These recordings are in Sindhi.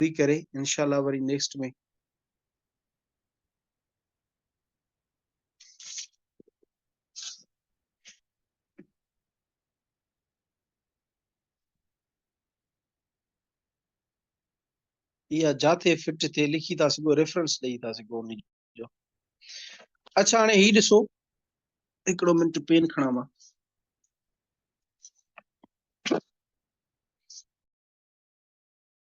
پوري ڪري انشاء الله وري نيڪسٽ ۾ يا جاٿي فٽ ٿي لکي ٿا سگو ريفرنس ڏيئي ٿا سگو ان جو اچھا هاڻي هي ڏسو هڪڙو منٽ پين کڻا مان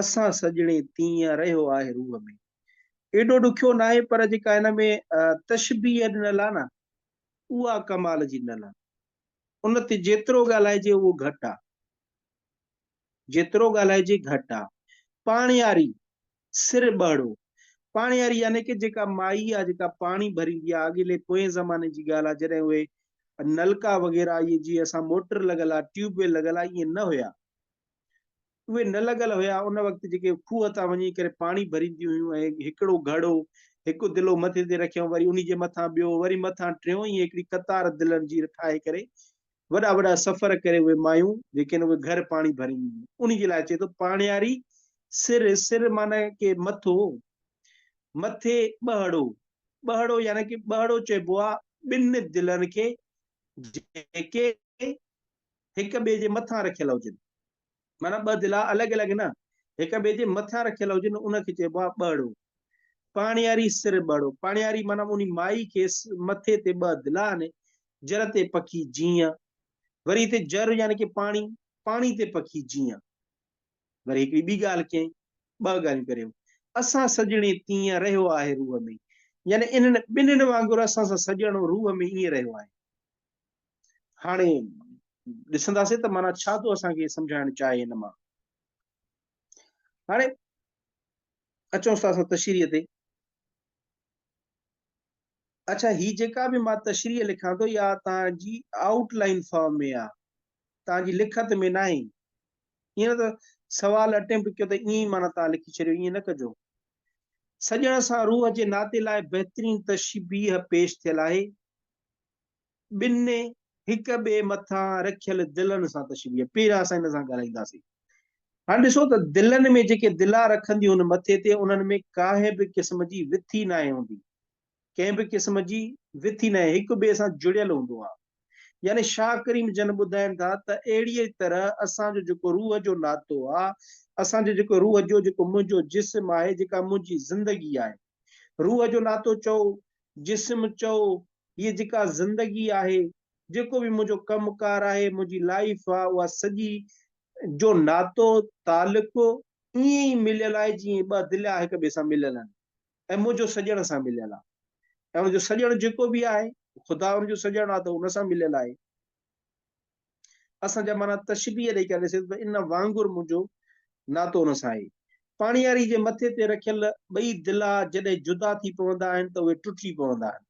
اسان سڄڻي تيئن رهيو آهي روح ۾. ايڏو ڏکيو ناهي پر جيڪا هن ۾ تشبيهه ڏنل آهي نه اها ڪمال جي ڏنل آهي. ان تي جيترو ڳالهائجي اهو گهٽ آهي. جيترو ڳالهائجي گهٽ آهي. پاڻياري، سر ٻهڙو، پاڻياري يعني ڪه جيڪا مائي آهي جيڪا پاڻي ڀريندي آهي اڳيلي پوئين زماني جي ڳالهه آهي جڏهن اهي نلڪا وغيره اهي جيئن اسان موٽر لڳل آهي ٽيوب ويل لڳل آهي ايئن نه هيا. اهي نه لڳل هيا، ان وقت جيڪي کوهه تان وڃي ڪري پاڻي ڀرينديون هيون ۽ هڪڙو گهڙو، هڪ دلو مٿي تي رکيائون وري انهي جي مٿان ٻيو وري مٿان ٽيون ائين هڪڙي قطار دلن جي ٺاهي ڪري وڏا وڏا سفر ڪري اهي مايون جيڪي اهي گهر پاڻي ڀرينديون هيون انهي جي لاء چئي ٿو پاڻياري سر، سر معنيٰ ڪي مٿو، مٿي ٻهڙو، ٻهڙو يعني ڪي ٻهڙو چئبو آهي ٻن دلن کي جيڪي هڪ ٻئي جي مٿان رکيل هجن. معنيٰ ٻه دلا الڳ الڳ نه، هڪ ٻئي جي مٿان رکيل هجن، ان کي چئبو آهي ٻهڙو. پاڻياري سر ٻهڙو، پاڻياري معنيٰ اونهي مائي کيس مٿي تي ٻه دلا هني، جر تي پکي جيئن. وري هتي جر يعني ڪي پاڻي، پاڻي تي پکي جيئن. وري هڪڙي ٻي ڳالهه ڪيائين، ٻه ڳالهيون ڪري هو، اسان سڄڻي تيئن رهيو آهي روح ۾، يعني انهن ٻنهين وانگر اسان سان سڄڻو روح ۾ ائين رهيو آهي. هاڻي ڏسنداسين ته معنيٰ ڇا ٿو اسان کي سمجهائڻ چاهي هن مان هاڻي اچون ٿا اسان تشريح تي اچھا هي جيڪا به مان تشريح لکان ٿو يا تنهنجي آؤٽ لائن فارم ۾ آ تنهنجي لکت ۾ نه آهي ائين نه ته سوال اٽيمپٽ ڪيو ته ائين ئي معنی تان لکي ڇڏيو ائين نه ڪجو سڄڻ سان روح جي ناتي لاء بهترين تشبيهه پيش ٿيل آهي ٻنهي هڪ ٻئي مٿان رکيل دلن سان تشبيهه پيرا اسان هن سان ڳالهائينداسين. هاڻ ڏسو ته دلن ۾ جيڪي دلا رکنديون هن مٿي تي انهن ۾ ڪانهن به قسم جي وٿي ناهي هوندي ڪنهن به قسم جي وٿي ناهي هڪ ٻئي سان جڙيل هوندو آهي يعني شاهه ڪريم جن ٻڌائين ٿا ته اهڙيء طرح اسان جو جيڪو روح جو ناتو آهي اسان جو جيڪو روح جو جيڪو منهنجو جسم آهي جيڪا منهنجي زندگي آهي روح جو ناتو چئو جسم چئو هيء جيڪا زندگي آهي، جيڪو به منهنجو ڪم ڪار آهي، منهنجي لائيف آ اها سڄي جو ناتو تعلق ائين ئي مليل آهي جيئن ٻه دليا هڪ ٻئي سان مليل آهن ۽ منهنجو سڄڻ سان مليل آ ۽ ان جو سڄڻ جيڪو به آهي خدا ان جو سڄڻ آ ته ان سان مليل آهي. اسان جا معنيٰ تشبيهه ڏئي ڪري ڏسي ته ان وانگر منهنجو ناتو ان سان آهي. پاڻياري جي مٿي تي رکيل ٻئي دلا جڏهن جدا ٿي پوندا آهن ته اهي ٽٽجي پوندا آهن.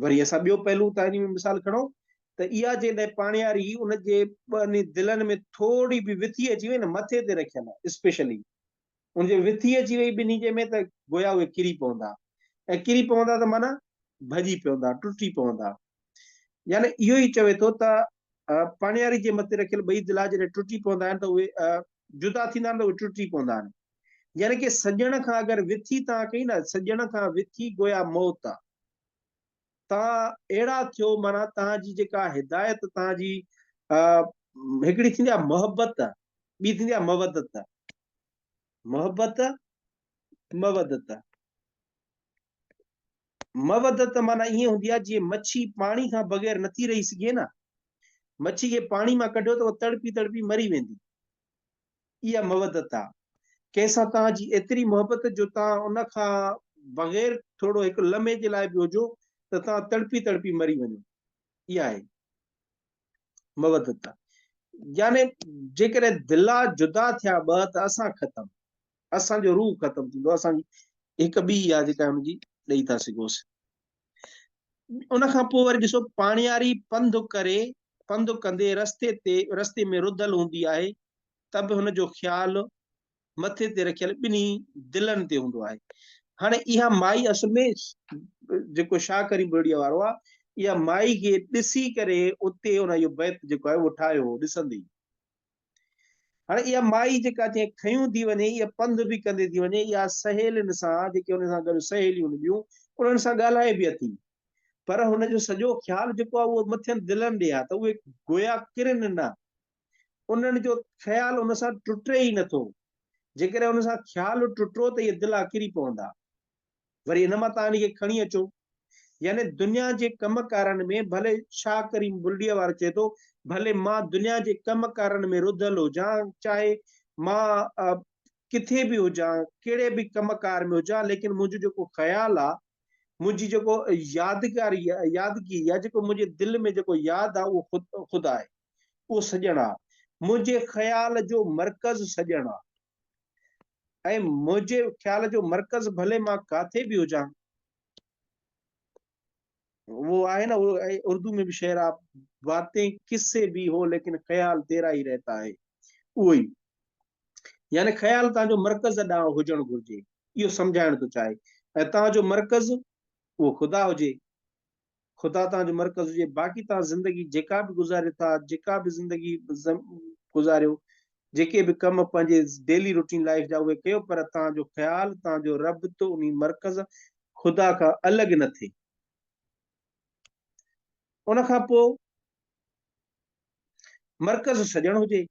وري اسان ٻيو پهلو تائري ۾ مثال کڻون ته اها جيڪڏهن پاڻياري ان جي ٻنهي دلن ۾ ٿورڙي به وٿي اچي وئي نه مٿي تي رکيل اسپيشلي ان جي وٿي اچي وئي ٻنهي جي ۾ ته گويا اهي ڪري پوندا ۽ ڪري پوندا ته معنيٰ ڀڄي پوندا ٽٽي پوندا يعني اهو ئي چوي ٿو ته پاڻياري جي مٿي رکيل ٻئي دلا جڏهن ٽٽي پوندا آهن ته اهي جدا ٿيندا آهن ته اهي ٽٽي پوندا آهن يعني ڪي سڄڻ کان اگر وٿي تان ڪئي نه سڄڻ کان وٿي گويا موت آهي توهان اهڙا ٿيو معنيٰ توهان جي جيڪا هدايت توهان جي هڪڙي ٿيندي آهي محبت ٻي ٿيندي آهي مودت محبت مودت مودت معنی ائين هوندي آهي جيئن مڇي پاڻي کان بغير نٿي رهي سگهي نه مڇي کي پاڻي مان ڪڍيو ته تڙپي تڙپي مري ويندي اها مودت آ. ڪنهن سان توهان جي ايتري محبت جو توهان ان کان بغير ٿورڙو هڪ لمحي جي لاء به هجو ته توهان تڙپي تڙپي مري وڃو. اها آهي مودت. يعني جيڪڏهن دلا جدا ٿيا ٻه ته اسان ختم. اسان جو روح ختم ٿيندو. اسان جي هڪ ٻي آ جيڪا هن جي ڏئي ٿا سگهوس. ان کان پوء وري ڏسو پاڻياري پنڌ ڪري پنڌ ڪندي رستي تي رستي ۾ رڌل هوندي آهي ته به هن جو خيال مٿي تي رکيل ٻنهي دلن تي هوندو آهي هاڻي اها مائي اصل ۾ جيڪو شاهه ڪريم بلڙيا وارو آهي اها مائي کي ڏسي ڪري اتي ان جو بيت جيڪو آهي اهو ٺاهيو هو ڏسندي هاڻي اها مائي جيڪا جنهن کنيون ٿي وڃي اها پنڌ به ڪندي ٿي وڃي اها سهيلين سان جيڪي ان سان گڏ سهيليون هونديون انهن سان ڳالهائي به اٿي پر هن جو سڄو خيال جيڪو آهي اهو مٿين دلن ڏي آهي ته اهي گويا ڪرن نه انهن جو خيال ان سان ٽٽي ئي نٿو جيڪڏهن ان سان خيال ٽٽو ته اهي دلا ڪري پوندا وري ان مان تان انهيء کي کڻي اچو. يعني دنيا جي ڪم ڪارن ۾ ڀلي شاهه ڪريم بلڙيء وارو چئي ٿو ڀلي مان دنيا جي ڪم ڪارن ۾ رڌل هجان، چاهي مان ڪٿي به هجان، ڪهڙي به ڪم ڪار ۾ هجان، ليڪن منهنجو جيڪو خيال آ، منهنجي جيڪو يادگاري آ، يادگيري آ، جيڪو منهنجي دل ۾ جيڪو ياد آ، اهو خدا آهي. اهو سڄڻ آ. منهنجي خيال جو مرڪز سڄڻ آ. ۽ منهنجي خيال جو مرڪز ڀلي مان ڪاٿي به هجان وہ آهي نه اردو ۾ به شعر آ باتين کس سي به هو ليڪن خيال تيرا ئي رهتا آهي اهو ئي يعني خيال تنهنجو مرڪز ڏانهن هجڻ گهرجي اهو سمجهائڻ ٿو چاهي ۽ تنهنجو مرڪز اهو خدا هجي خدا توهان جو مرڪز هجي باقي توهان زندگي جيڪا به گذاريو ٿا جيڪا به زندگي گذاريو جيڪي به ڪم پنهنجي ڊيلي روٽين لائف جا اهي ڪيو پر توهان جو خيال توهان جو رب تو انهي مرڪز خدا کان الڳ نه ٿئي ان کان پوء مرڪز سڄڻ هجي.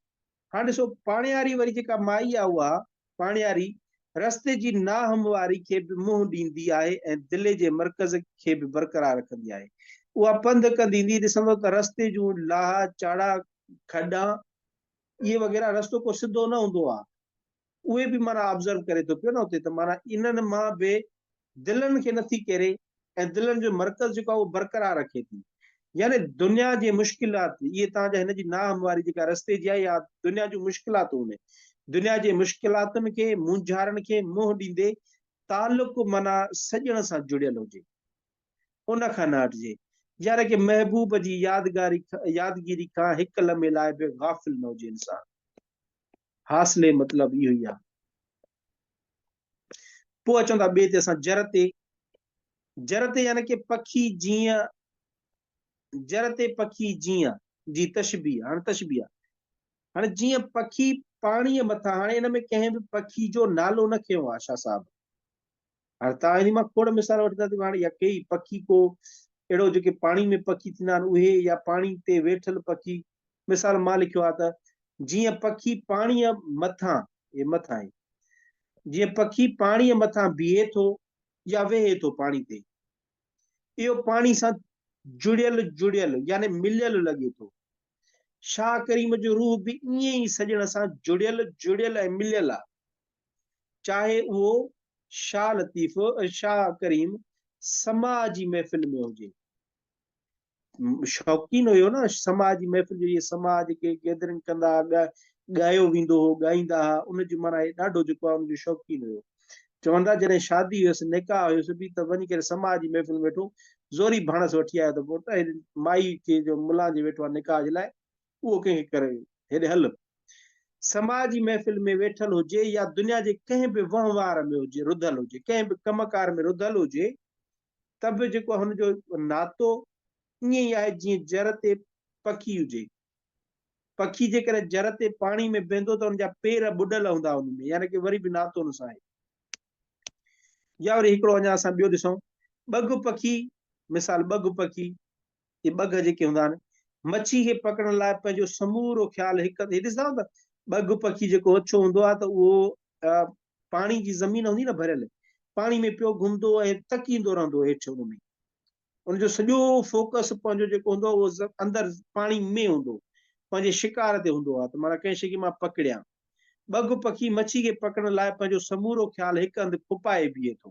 هاڻ ڏسو پاڻياري وري جيڪا مائي آ اها پاڻياري رستي جي ناهمواري کي به منهن ڏيندي آهي ۽ دلي جي مرڪز کي به برقرار رکندي آهي. اها پنڌ ڪندي ايندي ڏسندو ته رستي جون لاهه چاڙها کڏا اهي وغيره رستو ڪو سڌو نه هوندو آ. اهي به معنيٰ آبزرو ڪري ٿو پيو نه اتي ته معنيٰ انهن مان به دلن کي نٿي ڪيري ۽ دلن جو مرڪز جيڪو آهي اهو برقرار رکي ٿي يعني دنيا جي مشڪلات اهي تان جا هن جي ناهمواري جيڪا رستي جي آهي يا دنيا جون مشڪلاتون هن دنيا جي مشڪلاتن کي مونجهارن کي منهن ڏيندي تعلق معنيٰ سڄڻ سان جڙيل هجي ان کان نه هٽجي يعني ڪي محبوب جي يادگاري يادگيري کان هڪ لمحي لاء به غافل نه هجي انسان حاصلي مطلب اهو ئي آهي. پوء اچون ٿا ٻئي تي اسان جر تي جر تي يعني ڪي پکي جيئن جر تي پکي جيئن جي تشبيه هاڻ تشبيه آهي هاڻي جيئن پکي پاڻي مٿان هاڻي ان ۾ ڪنهن به پکي جو نالو نه کنيو آهي شاهه صاحب هاڻي توهان انهي مان کوڙ مثال وٺندا ته هاڻي يا ڪيئي پکي ڪو اهڙو جيڪي پاڻي ۾ پکي ٿيندا آهن اهي يا پاڻي تي ويٺل پکي مثال مان لکيو آهي ته جيئن پکي پاڻيء مٿان هي مٿان آهي جيئن پکي پاڻيء مٿان بيهي ٿو يا ويهي ٿو پاڻي تي اهو پاڻي سان جڙيل جڙيل يعني مليل لڳي ٿو شاهه ڪريم جو روح به ائين ئي سڄڻ سان جڙيل جڙيل ۽ مليل آهي چاهي اهو شاهه لطيف شاهه ڪريم سماع جي محفل ۾ هجي شوقين هيو نه سماع جي محفل جو اهي سماع جيڪي گيدرنگ ڪندا ڳايو ويندو هو ڳائيندا هئا ان جو معنيٰ ڏاڍو جيڪو آهي ان جو شوقين هيو چوندا جڏهن شادي هيس نڪاح هيس به ته وڃي ڪري سماع جي محفل ويٺو زوري ڀاڻس وٺي آيو ته پوٽ مائي کي جو ملان جي ويٺو آهي نڪاح جي لاء اهو ڪنهن کي ڪري هيڏي هل سماء جي محفل ۾ ويٺل هجي يا دنيا جي ڪنهن به وهنوار ۾ هجي رڌل هجي ڪنهن به ڪم ڪار ۾ رڌل هجي ته به جيڪو هن جو ناتو ائين ئي آهي جيئن جر تي پکي هجي پکي جيڪڏهن جر تي پاڻي ۾ بيهندو ته ان جا پير ٻڏل هوندا ان ۾ يعني ڪي وري به ناتو ان سان آهي يا وري هڪڙو اڃا اسان ٻيو ڏسون ٻگهه پکي مثال ٻگهه پکي اهي ٻگهه جيڪي هوندا آهن، مڇي کي پڪڙڻ لاء پنهنجو سمورو خيال هڪ هنڌ، هي ڏسندا آهيو ته ٻگهه پکي جيڪو اڇو هوندو آهي ته اهو پاڻي جي زمين هوندي نه ڀريل، پاڻي ۾ پيو گهمندو ۽ تڪيندو رهندو هيٺ ان ۾، ان جو سڄو فوڪس پنهنجو جيڪو هوندو آهي اهو اندر پاڻي ۾ هوندو، پنهنجي شڪار تي هوندو آهي ته معنيٰ ڪنهن شيء کي مان پڪڙيان. ٻگهه پکي مڇي کي پڪڙڻ لاء پنهنجو سمورو خيال هڪ هنڌ ڦپائي بيهي ٿو.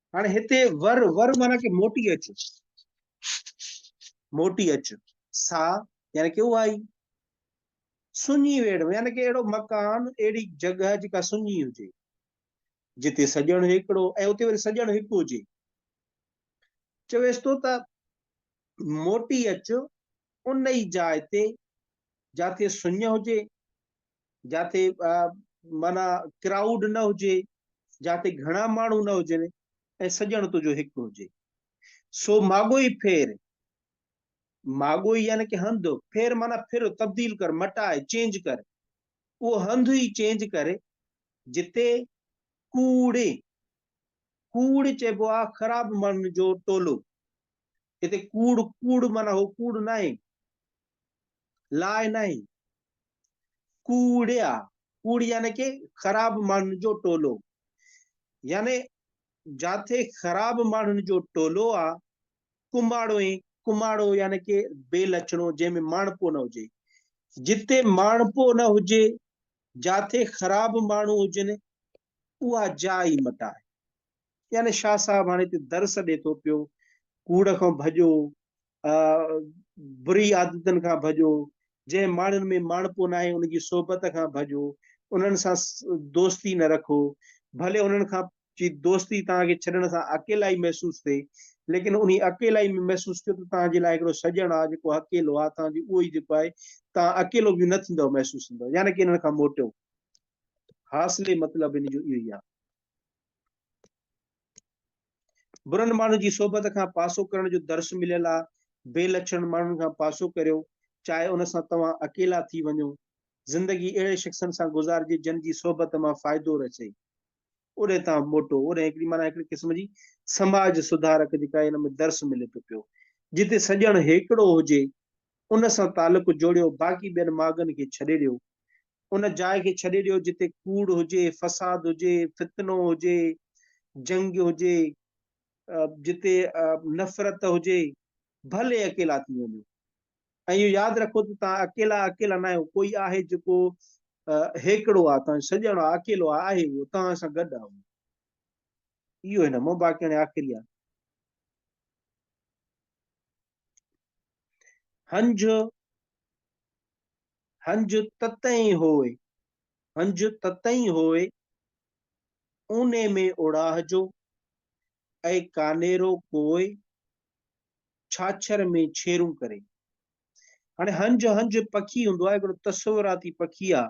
هاڻي هتي ور ور معنی ڪي موٽي اچ موٽي اچ سا يعني ڪي اهائي سڃي ويڙ يعني ڪي اهڙو مڪان اهڙي جڳهه جيڪا سڃي هجي جتي سڄڻ هڪڙو ۽ اتي وري سڄڻ هڪ هجي چويس ٿو ته موٽي اچ ان ئي جاء تي جاتي سڃ هجي جاتي معنيٰ ڪرائوڊ نه هجي، جاتي گهڻا ماڻهو نه هجن ۽ سڄڻ تنهنجو هڪ هجي. سو ماڳوئي ڦير، ماڳوئي يعني ڪه هنڌ، ڦير معنيٰ ڦر، تبديل ڪر، مٽاء، چينج ڪر، اهو هنڌ ئي چينج ڪر جتي ڪوڙ، ڪوڙ چئبو آ خراب ماڻهن جو ٽولو، هتي ڪوڙ، ڪوڙ معنيٰ هو ڪوڙ ناهي، لاء ناهي. ڪوڙيا، ڪوڙي يعني ڪي خراب ماڻهن جو ٽولو. يعني جاٿي خراب ماڻهن جو ٽولو آ، ڪماڙو ۽ ڪماڙو يعني ڪي بي لڇڻو جنهن ۾ ماڻهپو نه هجي. جتي ماڻهپو نه هجي، جاٿي خراب ماڻهو هجن، اها جاء ئي مٽ آهي. يعني شاهه صاحب هاڻي هتي درس ڏي ٿو پيو، ڪوڙ کان ڀڄو، بري عادتن کان ڀڄو، جنهن ماڻهن ۾ ماڻهپو ناهي ان جي صحبت کان ڀڄو، انهن سان دوستي نه رکو، ڀلي انهن کان جي دوستي توهان کي ڇڏڻ سان اڪيلائي محسوس ٿئي، ليڪن انهي اڪيلائي ۾ محسوس ڪيو ته توهان جي لاء هڪڙو سڄڻ آ جيڪو اڪيلو آ، توهان جي اهو ئي جيڪو آهي، توهان اڪيلو به نه ٿيندؤ محسوس ٿيندؤ، يعني ڪي انهن کان موٽيو. حاصلي مطلب ان جو اهو ئي آ. برن ماڻهن جي صحبت کان پاسو ڪرڻ جو درس مليل آ، بي لڇڻ ماڻهن کان پاسو ڪريو، چاهي ان سان توهان اڪيلا ٿي وڃو. زندگي اهڙي شخصن سان گذارجي جن جي صحبت مان فائدو رسي. اڏي تان موٽو، اڏي هڪڙي معنيٰ هڪڙي قسم جي سماج سڌارڪ جيڪا هن ۾ درس ملي ٿو پيو. جتي سڄڻ هيڪڙو هجي ان سان تعلق جوڙيو، باقي ٻين ماڳن کي ڇڏي ڏيو. ان جاء کي ڇڏي ڏيو جتي ڪوڙ هجي، فساد هجي، فتنو هجي، جنگ هجي، جتي نفرت هجي، ڀلي اڪيلا ٿي وڃو. ۽ اهو ياد رکو ته توهان اڪيلا اڪيلا ناهيو، ڪوئي آهي جيڪو هيڪڙو آهي، توهان جو سڄڻ آهي، اڪيلو آهي، آهي اهو، توهان سان گڏ آهي اهو. اهو هن مون باقي هاڻي آخري آهي. هنج هنج تتئين هوء هنج تتئين هوء اوني ۾ اوڙاهه جو اي ڪانيرو ڪوء ڇاڇر ۾ ڇيرون ڪري هاڻي هنج هنج پکي هوندو آهي هڪڙو تصوراتي پکي آ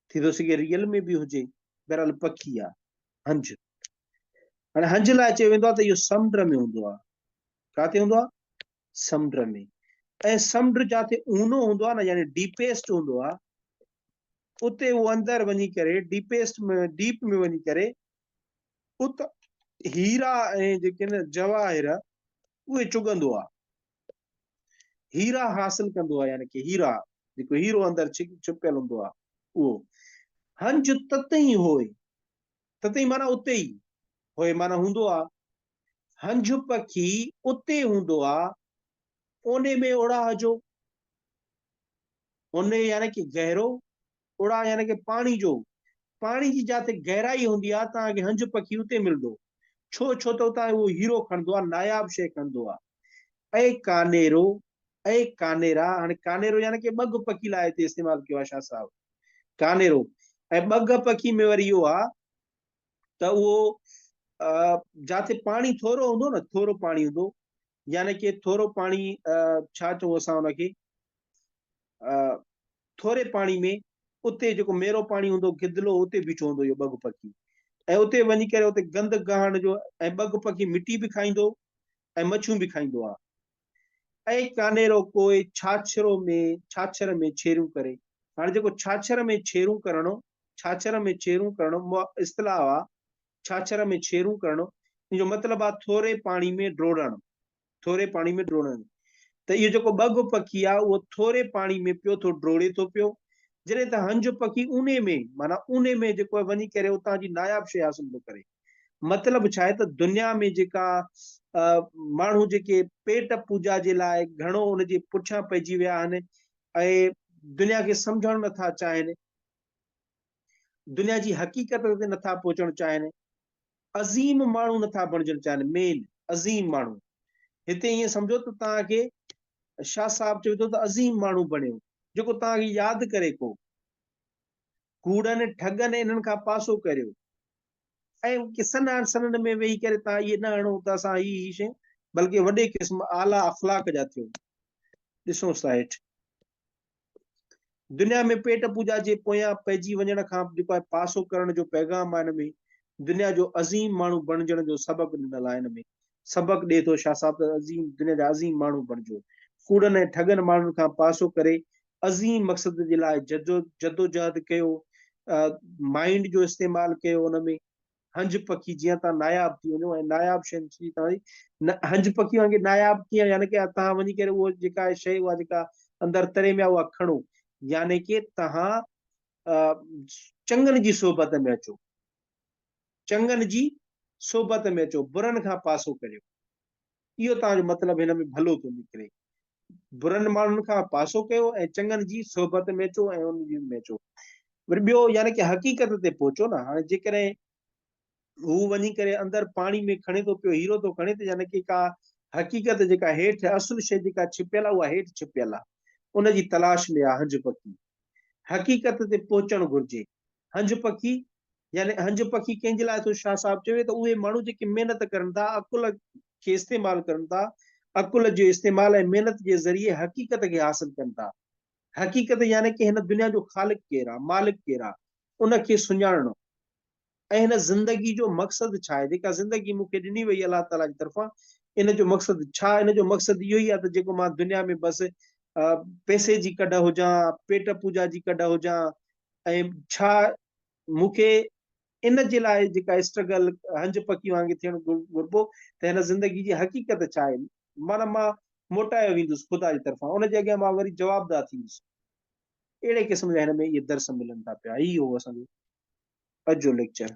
ٿي ٿو سگهي ريل ۾ به هجي بهرحال پکي آ هنج هاڻي هنج لاء چيو ويندو آ ته اهو سمنڊ ۾ هوندو آ ڪاتي هوندو آهي؟ سمنڊ ۾ ۽ سمنڊ جاتي اونو هوندو آهي نه يعني ڊيپيسٽ هوندو آهي اتي هو اندر وڃي ڪري ڊيپيسٽ ۾ ڊيپ ۾ وڃي ڪري ات هيرا ۽ جيڪي نه جواهر اهي چگندو آهي هيرا حاصل ڪندو آهي يعني ڪي هيرا جيڪو هيرو اندر ڇپيل هوندو آهي اهو هنج تتئي هوئي تتي معنيٰ اتي ئي، هوء معنيٰ هوندو آ، هنج پکي اتي هوندو آ، اونهي ۾ اوڙاهه جو، اونهي يعني ڪي گهرو، اوڙاهه يعني ڪي پاڻي جو، پاڻي جي جاتي گهرائي هوندي آ، تان کي هنج پکي اتي ملندو، ڇو ڇو ته اتان اهو هيرو کڻندو آ، ناياب شيء کڻندو آ. اي ڪانيرو، اي ڪانيرا، هاڻي ڪانيرو يعني ڪي ٻگهه پکي لاء هتي استعمال ڪيو آ شاهه صاحب. ڪانيرو ۽ ٻگهه پکي ۾ وري اهو آ ته اهو جاتي پاڻي ٿورو هوندو نه ٿورو پاڻي هوندو يعني ڪي ٿورو پاڻي ڇا چئون اسان ان کي ٿوري پاڻي ۾ اتي جيڪو ميرو پاڻي هوندو گدلو اتي بيٺو هوندو اهو ٻگهه پکي ۽ اتي وڃي ڪري اتي گند گهاڻ جو ۽ ٻگهه پکي مٽي به کائيندو ۽ مڇيون به کائيندو آ اي ڪانيرو ڪوئي ڇاڇرو ۾ ڇاڇر ۾ ڇيرون ڪري. هاڻي جيڪو ڇاڇر ۾ ڇيرون ڪرڻو، ڇاڇر ۾ ڇيرون ڪرڻو مع اصطلاح آ، ڇاڇر ۾ ڇيرون ڪرڻو، ان جو مطلب آ ٿوري پاڻي ۾ ڊوڙڻ، ٿوري پاڻي ۾ ڊوڙڻ. ته اهو جيڪو ٻگهه پکي آ، اهو ٿوري پاڻي ۾ پيو ٿو ڊوڙي ٿو پيو، جڏهن ته هنج پکي اونهي ۾، معنيٰ اونهي ۾ جيڪو وڃي ڪري اتان جي ناياب شيء حاصل ٿو ڪري. مطلب ڇا آهي ته دنيا ۾ جيڪا ماڻهو جيڪي پيٽ پوڄا جي لاء گهڻو ان جي پٺيان پئجي ويا آهن ۽ دنيا کي سمجهڻ نٿا چاهين دنيا جي حقيقت تي نٿا پهچڻ چاهين عظيم ماڻهو نٿا بڻجڻ چاهين مين عظيم ماڻهو هتي ائين سمجهو ته توهان کي شاهه صاحب چوي ٿو ته عظيم ماڻهو بڻيو جيڪو توهان کي ياد ڪري ڪو ڪوڙن ٺڳن انهن کان پاسو ڪريو ۽ ڪسن آن سنن ۾ ويهي ڪري تان اهي نه هڻو ته اسان هي هي شيون بلڪه وڏي قسم اعليٰ اخلاق جا ٿيون ڏسونس ٿا هيٺ دنيا ۾ پيٽ پوجا جي پويان پئجي وڃڻ کان جيڪو آهي پاسو ڪرڻ جو پيغام آهي هن ۾ دنيا جو عظيم ماڻهو بڻجڻ جو سبق ڏنل آهي هن ۾ سبق ڏي ٿو شاهه صاحب عظيم دنيا جا عظيم ماڻهو بڻجو ڪوڙن ۽ ٺڳن ماڻهن کان پاسو ڪري عظيم مقصد جي لاء جدوجهد ڪيو، مائنڊ جو استعمال ڪيو ان ۾ هنج پکي جيئن تان ناياب ٿي وڃو ۽ ناياب شين جي تان هنج پکي وانگي ناياب ٿي يعني ڪي تان وڃي ڪري هو جيڪا شي هو جيڪا اندر تري ۾ هو کڻو يعني ڪي تان چنگن جي صحبت ۾ اچو چنگن جي صحبت ۾ اچو برن کان پاسو ڪريو اهو توهان جو مطلب هن ۾ ڀلو ٿو نڪري. برن ماڻهن کان پاسو ڪيو ۽ چڱن جي صحبت ۾ اچو ۽ ان جي ۾ اچو. وري ٻيو يعني ڪي حقيقت تي پهچو نه. هاڻي جيڪڏهن هو وڃي ڪري اندر پاڻي ۾ کڻي ٿو پيو هيرو ٿو کڻي ته يعني ڪي ڪا حقيقت جيڪا هيٺ اصل شيء جيڪا ڇپيل آهي اها هيٺ ڇپيل آهي. ان جي تلاش ۾ آهي هنج پکي. حقيقت تي پهچڻ گهرجي. هنج پکي يعني اهنج پکي ڪنهن جي لاء ٿو شاهه صاحب چوي ته اهي ماڻهو جيڪي محنت ڪرن ٿا عقل کي استعمال ڪرن ٿا عقل جو استعمال ۽ محنت جي ذريعي حقيقت کي حاصل ڪن ٿا حقيقت يعني ڪي هن دنيا جو خالق ڪير آ مالڪ ڪير آ ان کي سڃاڻڻو ۽ هن زندگي جو مقصد ڇا آهي جيڪا زندگي مون کي ڏني وئي الله تعاليٰ جي طرفان ان جو مقصد ڇا ان جو مقصد اهو ئي آ ته جيڪو مان دنيا ۾ بس پيسي جي ڪڍ هجان پيٽ پوجا جي ڪڍ هجان ۽ ڇا مون کي ان جي لاء جيڪا اسٽرگل هنج پکي وانگي ٿيڻ گهربو ته هن زندگي جي حقيقت ڇا آهي معنيٰ مان موٽايو ويندس خدا جي طرفان ان جي اڳيان مان وري جوابدار ٿيندس اهڙي قسم جا هن ۾ اهي درس ملن ٿا پيا هي هو اسان جو اڄ جو ليڪچر